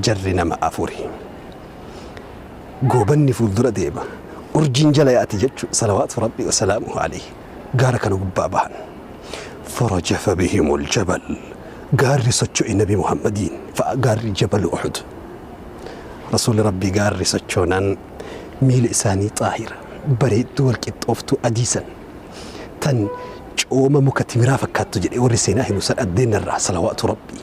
Jarri nama afuri. Goobanni fuuldura deema. Urjiin jala yaati jechu salawaatu Rabbii wa salaamuhu alayhi gaara kana gubbaa bahan. Farajafa bihimul jabal. Gaarri socho'e Nabi Muhammadiin fa'a gaarri Jabalu Uhud. Rasuulli Rabbii gaarri sochoonaan miila isaanii xaahira, bareedduu wal qixxooftuu adii san tan cooma muka timiraa fakkaattu jedhee warri seenaa himu san addeenna irraa salawaatu Rabbii.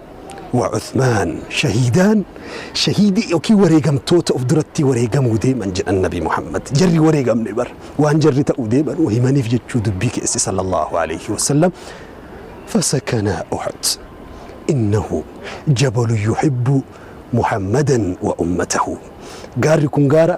wa Uthmaan shahiidaan, shahiidii ykn wareegamtoota of durattii wareegamuu deeman jedhan Nabii Muhammad. Jarri hin wareegamne bar. Waan jarri ta'uu deeman himaniif jechuu dubbii keesse sallallaahu aleeyhi wasallam. Fasakanaa Uhud. Innahu jabalun yuhibbu Muhammadan wa ummatahu. Gaarri kun gaara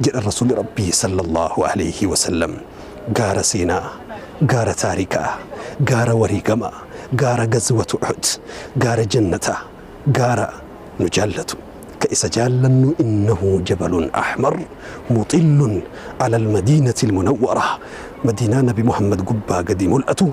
jedhan Rasuulli Rabbii sallallahu alayhi wa sallam. Gaara seenaa, gaara taarikaa, gaara wareegamaa, gaara gazwatu Uhud, gaara jannataa, gaara nu jaallatu, ka isa jaallannu innahu jabalun ahmar muxillun alal madiinatil munawwarah, Madiinaa Nabi Muhammad gubbaa gadi mul'atu,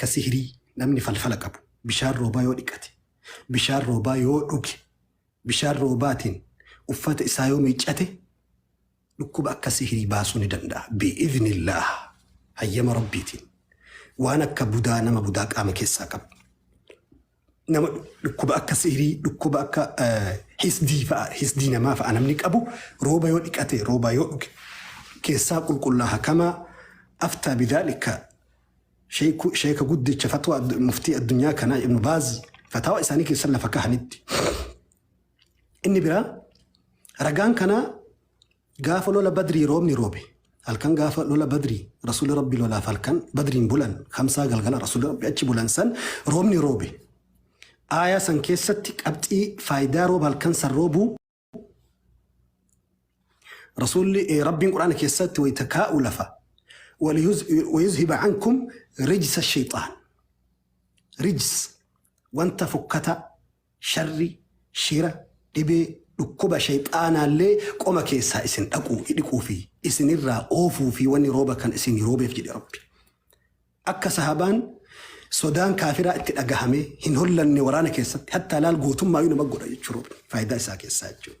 Ka sihrii, namni falfala qabu, bishaan roobaa yoo dhiqate, bishaan roobaa yoo dhuge, bishaan roobaatiin uffata isaa yoo miiccate, dhukkuba akka sihrii baasuu ni danda'a. Bi'idhnillaah, hayyama Rabbiitiin. Waan akka budaa, nama budaa qaama keessaa qabu. nama dhukkuba akka sihrii, dhukkuba akka hisdii fa'a, hisdii namaa fa'a namni qabu rooba yoo dhiqate, rooba yoo dhuge keessaa qulqullaaha kamaa aftaa bidaalika sheeka guddicha fatwaa muftii addunyaa kanaa ibnu baazi fataawa isaanii keessan lafa kahanitti. Inni biraa ragaan kanaa Gaafa lola Badrii roobni roobe. Halkan gaafa lola Badrii Rasuulli Rabbii lolaaf halkan Badriin bulan, Khamsaa galgala Rasuulli Rabbii achi bulan san roobni roobe. Aayaa san keessatti qabxii faayidaa rooba halkan san roobuu Rasuulli eh, Rabbiin Quraana keessatti wayita kaa'u lafa "Waliyuz- wayuzhiba ankum rijsa shayxaan rijs wanta fokkataa Sharri, shira, dhibee, dhukkuba sheyxaanaallee qoma keessaa isin dhaquu, idhiquu fi isinirraa oofuu fi wanni rooba kan isinii roobeef jedhe Rabbi. Akka sahaabaan sodaan kaafiraa itti dhagahamee hin hollanne waraana keessatti hattaa laal gootummaayuu nama godha jechuudha Rabbi. Faaydaa isaa keessaa jechuudha.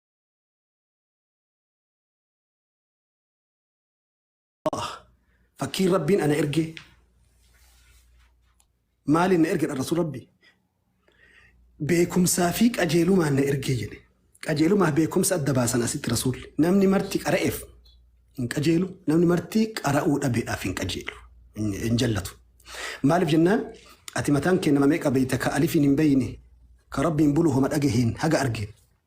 fakkiin rabbiin ana ergee maaliin na ergedha rasul rabbi beekumsaa fi qajeelumaan na ergee jedhe qajeelumaa beekumsa adda baasan asitti rasuulli namni marti qara'eef hin qajeelu namni marti qara'uu dhabeedhaaf hin qajeelu hin jallatu maaliif jennaan ati mataan kee nama meeqa beeyta ka alifiin hin beeyne ka rabbiin bulu homa dhagaheen haga argeen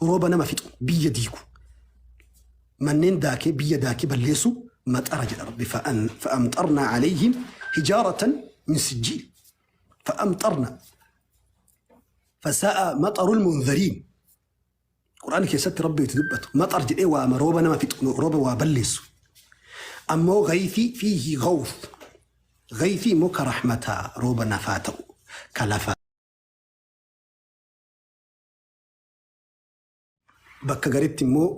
Rooba nama fixu, biyya diigu, manneen daakee, biyya daakee balleessu maxara jedha Rabbi. Fa'an- Fa'amxarnaa alayhim hijaaratan min sijjiil. Fa'amxarnaa. Fasaa'a maxarul munzariin. Qur'aan keessatti Rabbi itti dubbatu. Maxar jedhee waama rooba nama fixu, rooba waa balleessu. Ammoo gayfii fiihi gawf. Gayfii immoo ka rahmataa rooba nafaa ta'u, ka lafaa Bakka garitti immoo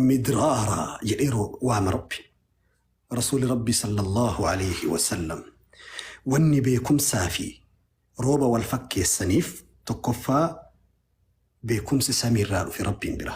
midraara jedhee roo- waama rabbi. Rasuuli rabbi sallallahu alayhi wasallam wanni beekumsaa fi rooba wal fakkeessaniif tokkoffaa beekumsi samiirraa dhufe rabbiin bira.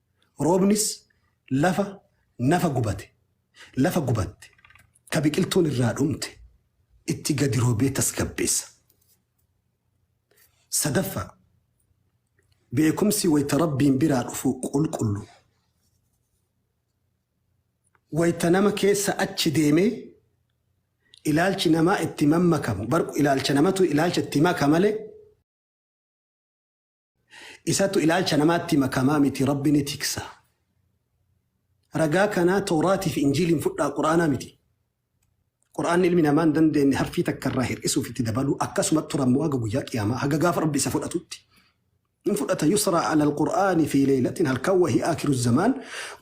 Roobnis lafa nafa gubate, lafa gubatte, ka biqiltuun irraa dhumte itti gadi roobee tasgabbeessa. Sadaffaa, beekumsi wayta Rabbiin biraa dhufu qulqullu. Wayta nama keessa achi deemee ilaalchi namaa itti mammakamu, bar ilaalcha namatu ilaalcha itti maka malee, Isatu ilaalcha namaatti makamaa miti Rabbi ni tiksa. Ragaa kanaa Tooraati fi Injiiliin fudhaa Qur'aanaa miti. Qur'aanni ilmi namaa hin dandeenye harfii takka irraa hir'isuuf itti dabaluu akkasuma turan moo haga guyyaa qiyaamaa haga gaafa Rabbi isa fudhatutti. Hin fudhata yusra alal Qur'aani fi leeylatin halkan wahii akiru zamaan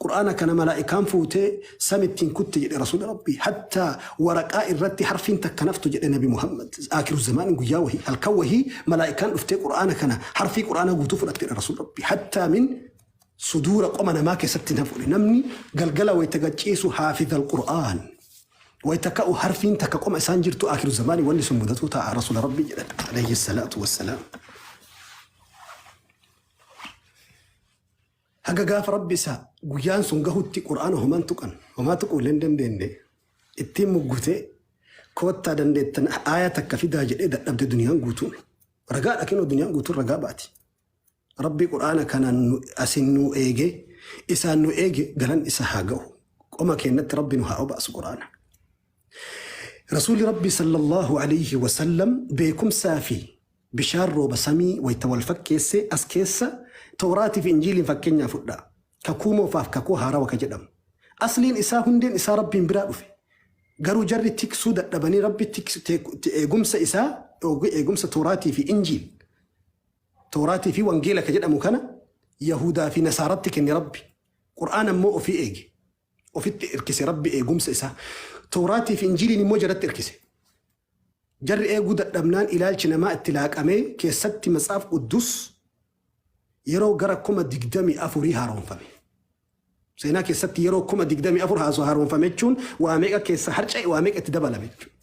Qur'aana kana malaa'ikaan fuutee San ittiin kutte jedhe Rasuulli Rabbii. Hattaa waraqaa irratti harfiin takka naftu jedhe Nabi Muhammad. Aakiru Zamaaniin guyyaa wahii halkan wahii malaa'ikaan dhuftee Qur'aana kana harfii Qur'aanaa guutuu fudhatte jedhe Rasuulli Rabbii. Hattaa min suduura qoma namaa keessatti hin hafuudhe. Namni galgala wayita gacciisu haafizal Qur'aan. Wayita ka'u harfiin takka qoma isaan jirtu aakiru zamaanii wanni sun mudatuu ta'a Rasuula Rabbii jedhan. Alayhi salaatu wassalaam. Haga gaafa Rabbi isaa guyyaan sun gahutti Qur'aana homaa hin tuqan, homaa tuquu illee hin dandeenne. Ittiin muggutee koottaa dandeettan aaya takka fidaa jedhee dadhabde duniyaan guutuun. Ragaadha kinoo duniyaan guutuun ragaa baati. Rabbi Qur'aana kanaan nu- asiin nu eege, isaan nu eege galan isa haa gahu. Qoma keenyatti Rabbi nu haa obaasu Qur'aana. Rasuulli Rabbi sallallahu alayhi wa sallam beekumsaa fi Bishaan rooba samii wayta wal fakkeesse as keessa Towraatii fi Injiiliin fakkeenyaa fudhaa. Kakuu Moofaaf Kakuu Haarawa ka jedhamu. Asliin isaa hundeen isaa Rabbiin biraa dhufe. Garuu jarri tiksuu dadhabanii Rabbi tiks, te, te, eegumsa isaa dhoowwe eegumsa Towraatii fi Injiil. Towraatii fi Wangeela ka jedhamu kana Yahuudaa fi Nasaaratti kenne Rabbi. Qur'aana immoo ofii eege. ofitti irkise Rabbi eegumsa isaa Towraatii fi Injiiliin immoo jaratti irkise. Jarri eeguu dadhabnaan ilaalchi namaa itti laaqamee keessatti Matsaaf Quddus yeroo gara 24,000 haaromfame. Seenaa keessatti yeroo 24,000 haasoo haaromfame jechuun waa meeqa keessaa harca'e waa meeqa itti dabalame jechuudha.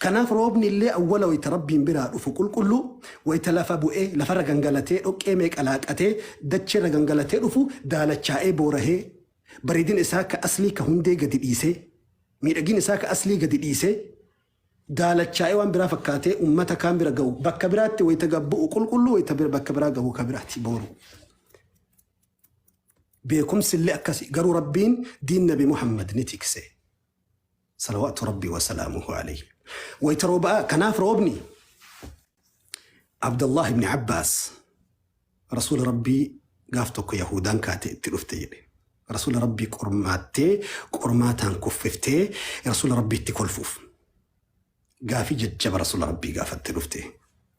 Kanaaf roobni illee awwala wayita Rabbiin biraa dhufu qulqulluu wayita lafa bu'ee lafarra gangalatee dhoqqee meeqa laaqatee dacheerra gangalatee dhufu daalachaa'ee boorahee bareedina isaa ka aslii ka hundee gadi dhiisee, miidhagina isaa ka aslii gadi dhiisee, daalachaa'ee waan biraa fakkaatee ummata kaan bira gahu, bakka biraatti wayita gad bu'u qulqulluu wayita bakka biraa gahu ka biraati booru. Beekumsillee akkasi garuu Rabbiin diin Nabi Muhammad ni tikse. Salawaatu Rabbii wa salaamuhu alayhi. Wayta rooba'aa kanaaf roobni Abdallah ibn Abbaas Rasuula Rabbii gaaf tokko Yahuudaan kaatee itti dhufte jedhe. Rasuula Rabbii qormaattee qormaataan kuffiftee Rasuula Rabbiitti kolfuuf. Gaafii jajjaba Rasuula Rabbii gaafatte dhufte.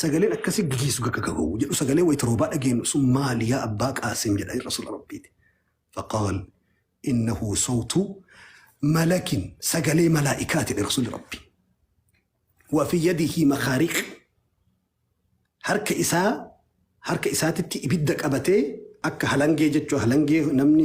Sagaleen akkasii guyyi suga akka gahuu jedhu sagalee wayita roobaa dhageenyu sun maali yaa abbaa qaasim jedhanii rasuula rabbiiti. Faqaal innahu sawtu malakin sagalee malaa'ikaa jedhe rasuulli rabbi. Wafi yadihi makaariq harka isaa harka isaatitti ibidda qabatee akka halangee jechuu halangee namni